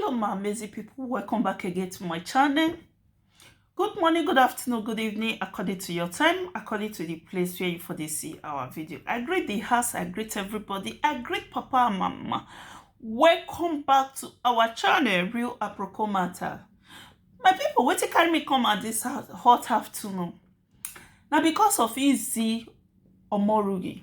hello my amazing people welcome back again to my channel good morning good afternoon good evening according to your time according to the place where you for this see our video i greet the house i greet everybody i greet papa and mama welcome back to our channel real aproko matter my people what you carry me come at this hot afternoon Now because of easy omorugi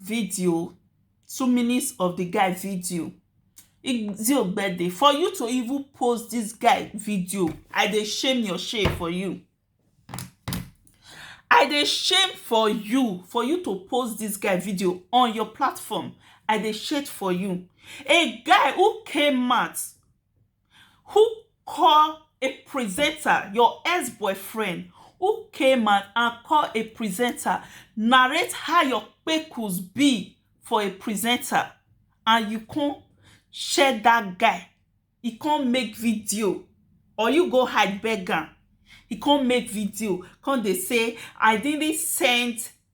video two minutes of the guy video Igzi Ogbede for you to even post this guy video I dey shame your shame for you I dey shame for you for you to post this guy video on your platform I dey shame for you a guy who came out Who call a presenter your ex boyfriend who came out and call a presenter narrate how your kpekus be for a presenter and you come share that guy he come make video or you go hide beg am he come make video come dey say i didn't send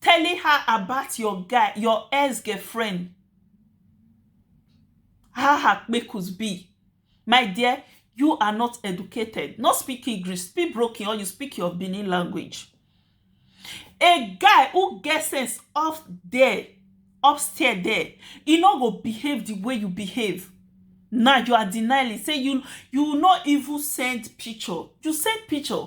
telling her about your guy your ex girlfriend how her kpekus be my dear you are not educated no speak english speak broken or you speak your benin language a guy who get sense up there upstairs there e no go behave the way you behave now you are denying say you you no even send picture you send picture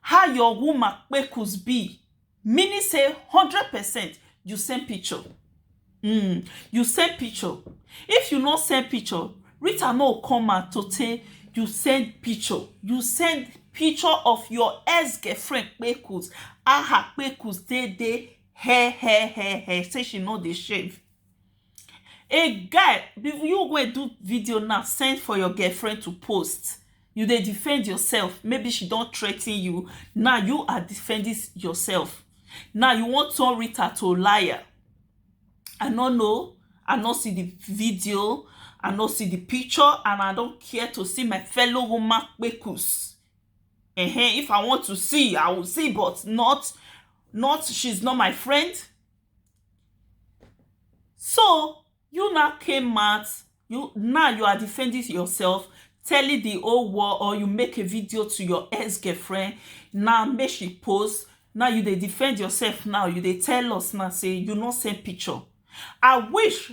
How your woman kpekus be? Meaning say hundred percent you send picture. Mm, you send picture. If you no send picture, Rita no come out to say you send picture. You send picture of your ex-girlfriend kpekus. Aha kpekus dey dey hair hair hair hair say she no dey shave. A guy, you wey do video now send for your girlfriend to post, you dey defend yourself, maybe she don threaten you, now you are defending yourself, now you wan turn Rita to liar, I no know, I no see di video, I no see di picture and I no care to see my fellow woman kpekus, um if I want to see, I will see but not, not, she is not my friend. So you now came out you now you are defending yourself telling the whole world or you make a video to your ex-girlfriend now make she post now you dey defend yourself now you dey tell us now say you no send picture i wish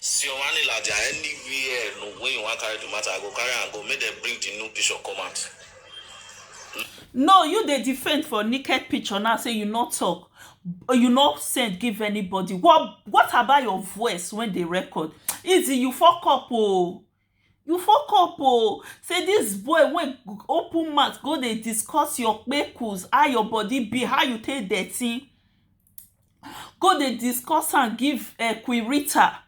Sioanila dia anywhere no wey you wan carry the matter I go carry am go make dem bring the nude picture come out now. No you dey defend for naked picture now say you no talk you no send give anybody what what about your voice wey dey record? Easy you fuck up oo. You fuck up oo say this boy wey open mouth go dey discuss your kpekus how your body be how you take dirty go dey discuss am give queen Rita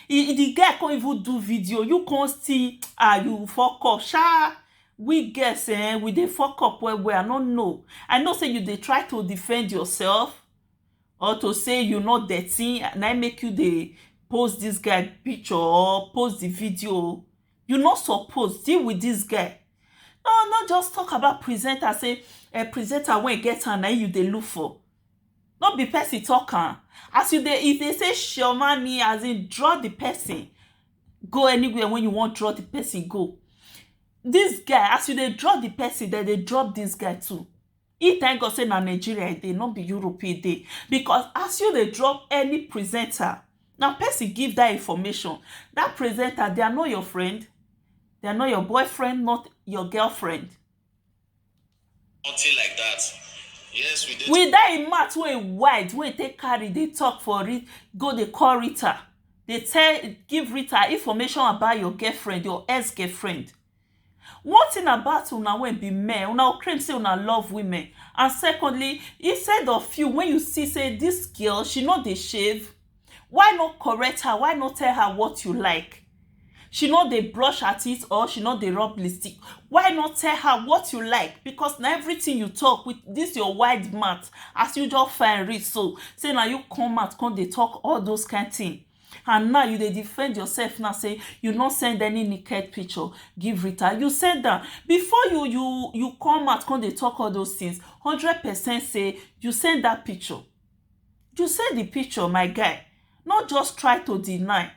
e the girl come even do video you come still ah you fuck up sha we girls um we dey fuck up well well I no know I know say you dey try to defend yourself or to say you no dirty na im make you dey post this guy picture or post the video you no suppose deal with this guy no no just talk about presenter say um presenter wey get am na im you dey look for no be person talk am as you dey if dey say chioma ni as in draw the person go anywhere wey you wan draw the person go this guy as you dey draw the person dem dey drop this guy too He thank God say na Nigeria e dey, no be Europe e dey. Because as you dey drop any presenter, na person give that information. That presenter, they are not your friend, they are not your boyfriend, not your girlfriend. Nothing like that. Yes, we dey. With that mouth wey wide, wey take carry, dey talk for it, go dey call Rita, dey tell, give Rita information about your girlfriend, your ex-girlfriend. One thing about una wey be men, una go claim sey una love women and secondly, instead of you when you see sey dis girl she no dey shave why no correct her, why no tell her what you like she no dey brush her teeth or she no dey rub lipstick why no tell her what you like because na everything you talk with dis your wide mouth as you just fine reach so sey na you come out come dey talk all those kind thing and now you dey defend yourself now say you no send any naked picture give Rita you send am before you you you come out come dey talk all those things hundred percent say you send that picture you send the picture my guy not just try to deny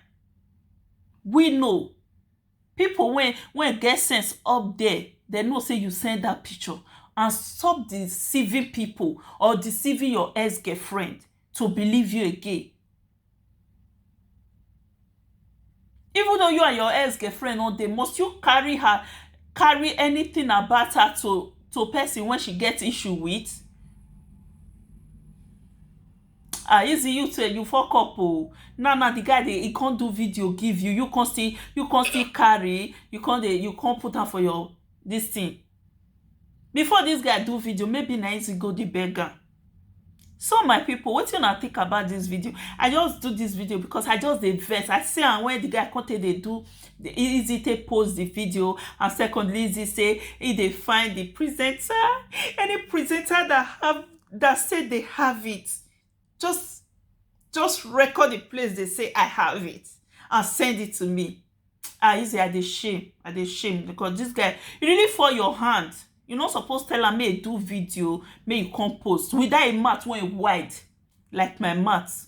we know people when when get sense up there they know say you send that picture and stop deceiving people or deceiving your ex-girlfriend to believe you again Even though you and your ex girlfriend no dey must you carry her carry anything about her to to person wey she get issue with um easy you too you fuck up oo now now de guy dey he come do video give you you come still you come still carry you come dey you come put am for your dis thing. Before dis guy do video maybe na him go dey beg am so my people wetin una think about dis video I just do dis video because I just dey vex I see am when the guy come take dey do easy take post the video and secondly easy say he dey find the presenter any presenter that have that say they have it just just record the place they say i have it and send it to me ah easy i dey shame i dey shame because this guy he really fall your hand you no suppose tell am make he do video make he come post with that him mouth wey wide like my mouth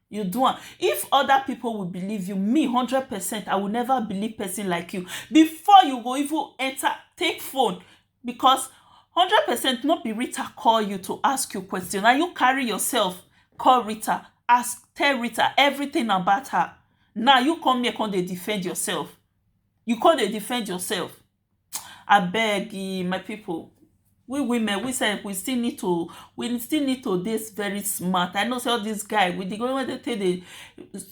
you do am if other people will believe you me hundred percent i will never believe person like you before you go even enter take phone because hundred percent no be rita call you to ask you question na you carry yourself call rita ask tell rita everything about her now you come here come dey defend yourself you come dey defend yourself Abeg um my pipu we women we self we still need to we still need to dey very smart I know sey all dis guy with de way wey dem take dey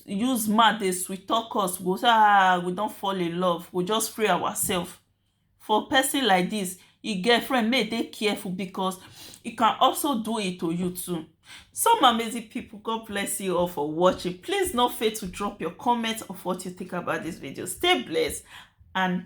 use mouth dey sweet talk us we go sey ah we don fall in love we go just free ourselves for person like dis e get friend make e dey careful because e can also do it to you too so my amazing pipu God bless you all for watching please no fail to drop your comment of what you think about dis video stay blessed and